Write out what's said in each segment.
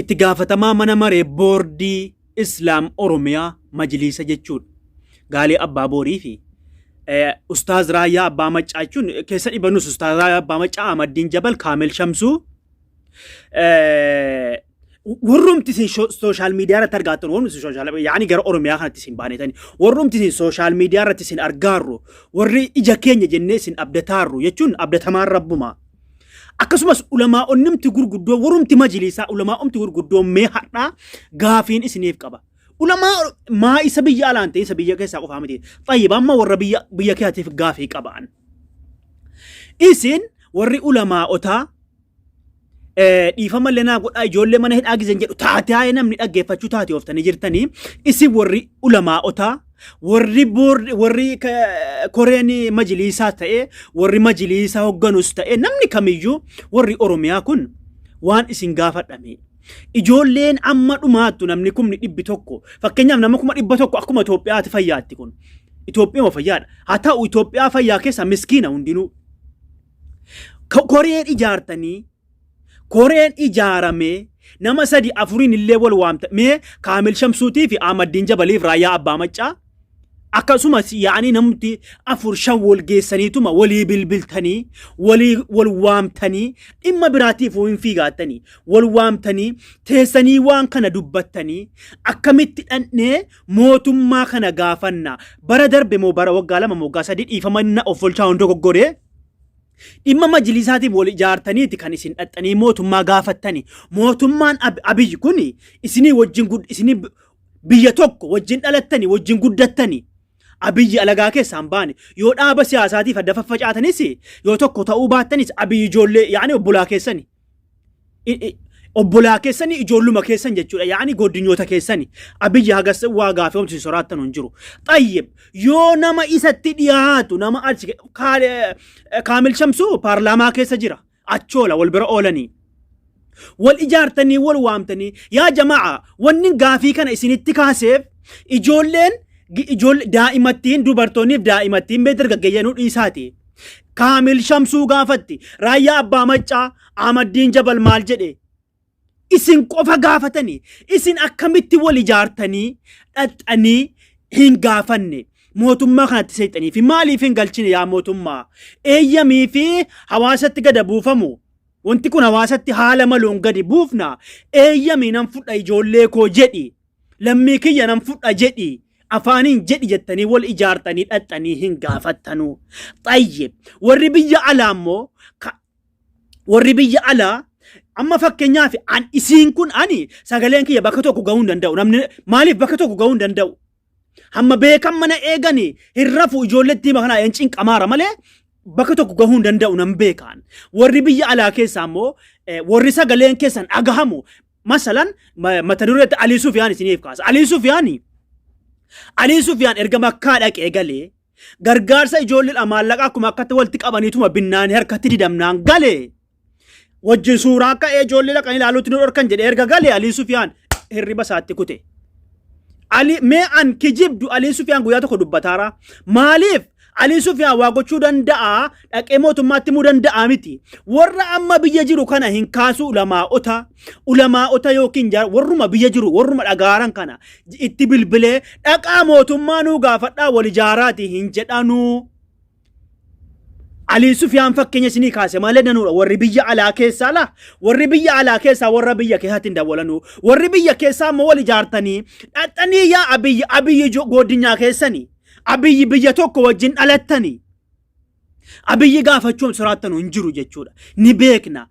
Itti gaafatamaa mana maree boordii Islaam Oromiyaa majliisa jechuudha. Gaalee Abbaa Boorii fi Ustaaz Raayyaa Abbaa Maccaa jechuun keessa dhibanus Ustaaz Raayyaa Abbaa Maccaa Ahmaddiin Jabal Kaamil Shamsuu warrumti isin sooshaal miidiyaa irratti argaattan warrumti isin sooshaal yaani gara Oromiyaa kanatti isin baanetani warrumti isin sooshaal miidiyaa irratti isin argaarru warri ija keenya jennee isin abdataarru jechuun abdatamaan rabbumaa. Akkasumas ulamaa'onnimti gurguddoo warumti majiliisaa ulamaa'umti gurguddoo mee hadhaa gaafiin isiniif qaba. Ulamaa maa isa biyya alaan ta'e isa biyya keessaa qofaa miti. Xayyiba amma warra biyya biyya keetiif gaafii qabaan. Isin warri ulamaa'otaa dhiifama lenaa godhaa ijoollee mana hidhaa gizan jedhu taatee namni dhaggeeffachuu taatee ooftanii jirtanii isin warri ulamaa'otaa Warri boord warri ka- koreen majiliisaa ta'e warri majiliisaa hogganus ta'e namni kamiyyuu warri Oromiyaa kun waan isin gaafadhame. Ijoolleen amma dhumaattu namni kumni dhibbi tokko fakkeenyaaf nama kuma dhibba tokko akkuma Itoophiyaati fayyaatti kun. Itoophiyuma fayyaadha. Haa ta'u Itoophiyaa fayyaa keessa miskiina hundinuu. Ko- Koreen ijaartanii Koreen ijaaramee nama sadi afuriin illee wal waamta mee Kaamil Shamsuutii fi Ahmaddiin Jabaliif Raayyaa Abbaa Maccaa akkasumas yaa'anii namti afur shan wal geessaniituma walii bilbiltanii walii wal waamtanii dhimma biraatiif hin fiigaattanii wal waamtanii teessanii waan kana dubbattanii akkamitti dhandhee mootummaa kana gaafanna bara darbe moo bara waggaa lama moo waggaa sadii dhiifama na offolchaa hundoo goggoree Dhimma majlisaatiif wal ijaartaniiti kan isin dhaxxanii mootummaa gaafattani. Mootummaan Ab- Abiy kun isinii wajjin gud- isinii b- biyya tokko wajjin dhalattani wajjin guddattani. Abiyyi alagaa keessaan baane yoo dhaaba siyaasaatiif adda faffacaatanis yoo tokko ta'uu baattanis Abiyyi ijoollee yaani obbolaa keessani. i- i- obbolaa keessani ijoolluma keessan jechuudha yaani goddinyoota keessani abiyyi hagas waa gaafii homsin soraattan hin jiru xayyib yoo nama isatti dhiyaatu nama achi ke- Kaal- eh, kaamil shamsuu paarlaamaa keessa jira achoola wal bira oolanii wal ijaartanii wal waamtanii yaa jamaa wanni gaafii kana isinitti kaaseef ijoolleen gi- ijoollee daa'imattiin dubartoonniif daa'imattiin mee dargaggeeyyanuu dhiisaati Kaamil Shamsuu gaafatti. Raayyaa Abbaa Maccaa Ahmaddiin Jabal maal jedhe? Isin qofa gaafatani. Isin akkamitti wal ijaartanii dhaxxanii hin gaafanne. Mootummaa kanatti seexanii fi maaliif hin galchine yaa mootummaa? Eeyyamii fi hawaasatti gada buufamu. Wanti kun hawaasatti haala maluun gadi buufna. Eeyyamii nan fudha ijoollee koo jedhi. Lammii kiyya nan fudha jedhi afaaniin jedhi jettanii wal ijaartanii dhaxxanii hin gaafattanuu. Xayyib warri biyya alaa immoo ka- warri biyya alaa amma fakkeenyaaf an isiin kun ani sagaleen kiyya bakka tokko gahuu hin danda'u namni maaliif bakka tokko gahuu hin danda'u hamma beekan mana eegani hin rafu ijoollettii makanaa hin cinqamaara malee bakka tokko gahuu hin danda'u nan beekaan warri biyya alaa keessaa immoo eh, warri sagaleen keessan dhagahamu Masalan ma- mata duree itti Alii Sufiyaan isiniif kaasa. Alii Sufiyaan Alii Sufiyaan erga makkaa dhaqee galee gargaarsa ijoolleedha maallaqa akkuma akkatti walitti qabaniituma binnaan harkatti didamnaan galee wajjin suuraa ka'ee ijoollee dhaqanii ilaaluutti nu dhorkan jedhee erga galee Alii Sufiyaan hirriba isaatti kute. Ali mee an kijibdu Aliin Sufiyaan guyyaa tokko dubbataara. Maaliif Aliin Sufiyaan waa gochuu danda'a dhaqee mootummaatti himuu danda'a miti. Warra amma biyya jiru kana hin kaasu ulamaa'ota. Ulamaa'ota yookiin jaara warruma biyya jiru warruma dhagaaran kana itti bilbilee dhaqaa mootummaa nuu gaafadhaa wal ijaaraati hin jedhanuu. Alii Sufiyaan fakkeenya isinii kaase malee danuudha. Warri biyya alaa keessaa laa warri biyya alaa keessaa warra biyya keessatti hin dawwalanuu. Warri biyya keessaa immoo wal ijaartanii dhaxxanii yaa abiyyi abiyyi jo- goodinyaa keessanii abiyyi biyya tokko wajjin dhalattanii abiyyi gaafachuun soraattan hin jiru jechuudha. Ni beekna.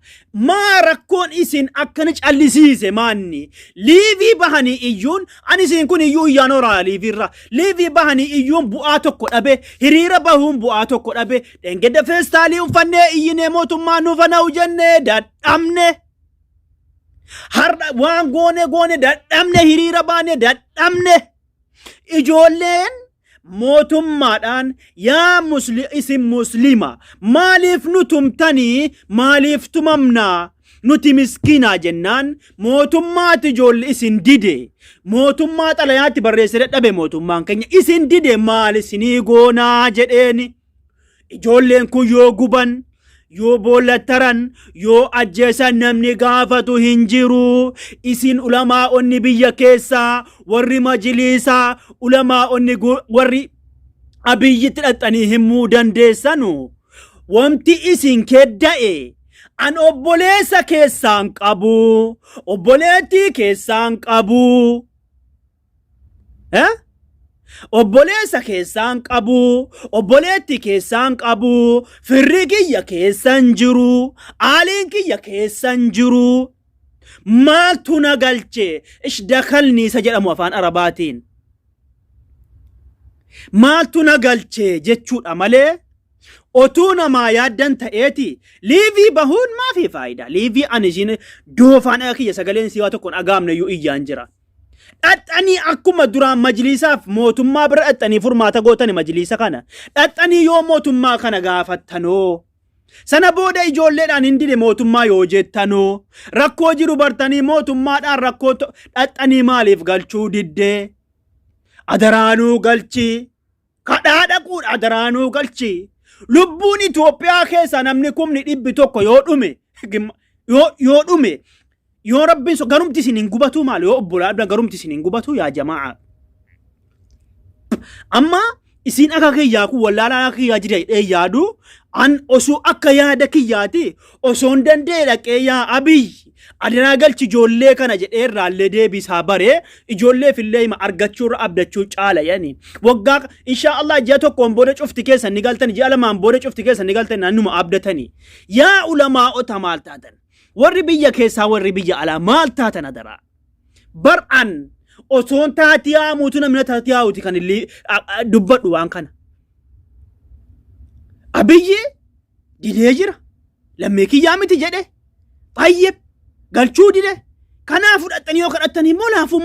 maa rakkoon isin akkana callisiise maanni liivii bahanii iyyuun ani isin kun iyyuu iyyaan horaa liiviirra liivii bahanii iyyuun bu'aa tokko dhabe hiriira bahuun bu'aa tokko dhabe dhengedda feestaalii uffannee iyyinee mootummaa nuuf hana'u jennee dadhabne har'a waan goone goone dadhabne hiriira baane dadhabne Ijoolleen mootummaadhaan yaa musli, isin muslima maaliif nu tumtanii maaliif tumamnaa nuti miskiinaa jennaan mootummaati ijoolli isin dide mootummaa xalayaatti barreesse dadhabe mootummaan keenya isin dide maal isinii goonaa jedheeni. Ijoolleen kun yoo guban, yoo boollattaran, yoo ajjeesan namni gaafatu hin jiru. Isin ulamaa'onni biyya keessaa, warri majiliisaa, ulamaa'onni gu- warri abiyyitti dhaxxanii himuu dandeessanu. Wanti isin kedda'e an obboleessa keessaan qabu, obboleettii keessaan qabu. Eh? Obboleessa keessaan qabu, obboleetti keessaan qabu, firri kiyya keessan jiru, aaliin kiyya keessan jiru. Maaltu na galche? Ishdakalni isa jedhamu afaan Arabaatiin. Maaltu na galche jechuudha malee otuu namaa yaaddan ta'eeti liivii bahuun maafi faayidaa? Liivii ani isiin doofaan dhaga kiyya sagaleen siwaa tokkoon dhagaamne iyyuu iyyaan jira. Dhaxxanii akkuma duraan majliisaaf mootummaa bira dhaxxanii furmaata gootani majliisa kana. Dhaxxanii yoo mootummaa kana gaafattanoo. Sana booda ijoolleedhaan hin dide mootummaa yoo jettanoo. Rakkoo jiru bartanii mootummaadhaan rakkoo to- dhaxxanii maaliif galchuu diddee? Adaraanuu galchii. kadhaa dhaquudha adaraa nuu galchi lubbuun Itoophiyaa keessa namni kumni dhibbi tokko yoo dhume gimma- yoo yoo dhume yoo rabbiin so garumti isin hin gubatuu maal yoo obbolaa dha garumti isin hin gubatuu yaa jamaa amma isin akka kiyyaa kun wallaalaa akka kiyyaa jira jedhee yaadu an osoo akka yaada kiyyaati osoon danda'e dhaqee yaa abiy adaraa galchi ijoollee kana jedhee irraallee deebisaa baree ijoolleef illee hima argachuu irra abdachuu caala yani waggaa inshaa Allah ji'a tokkoon booda cufti keessan ni galtani ji'a lamaan booda cufti keessan ni galtani naannuma abdatani yaa ulamaa'ota maal taatan warri biyya keessaa warri biyya alaa maal taatan adaraa bar'an osoon taatii haamuutu namni taatii haawuti kan illee dubbadhu waan kana abiyyi didee jira lammii kiyyaa miti jedhe fayyib galchuu dide kanaa fudhattanii yoo kadhattan immoo laafummaa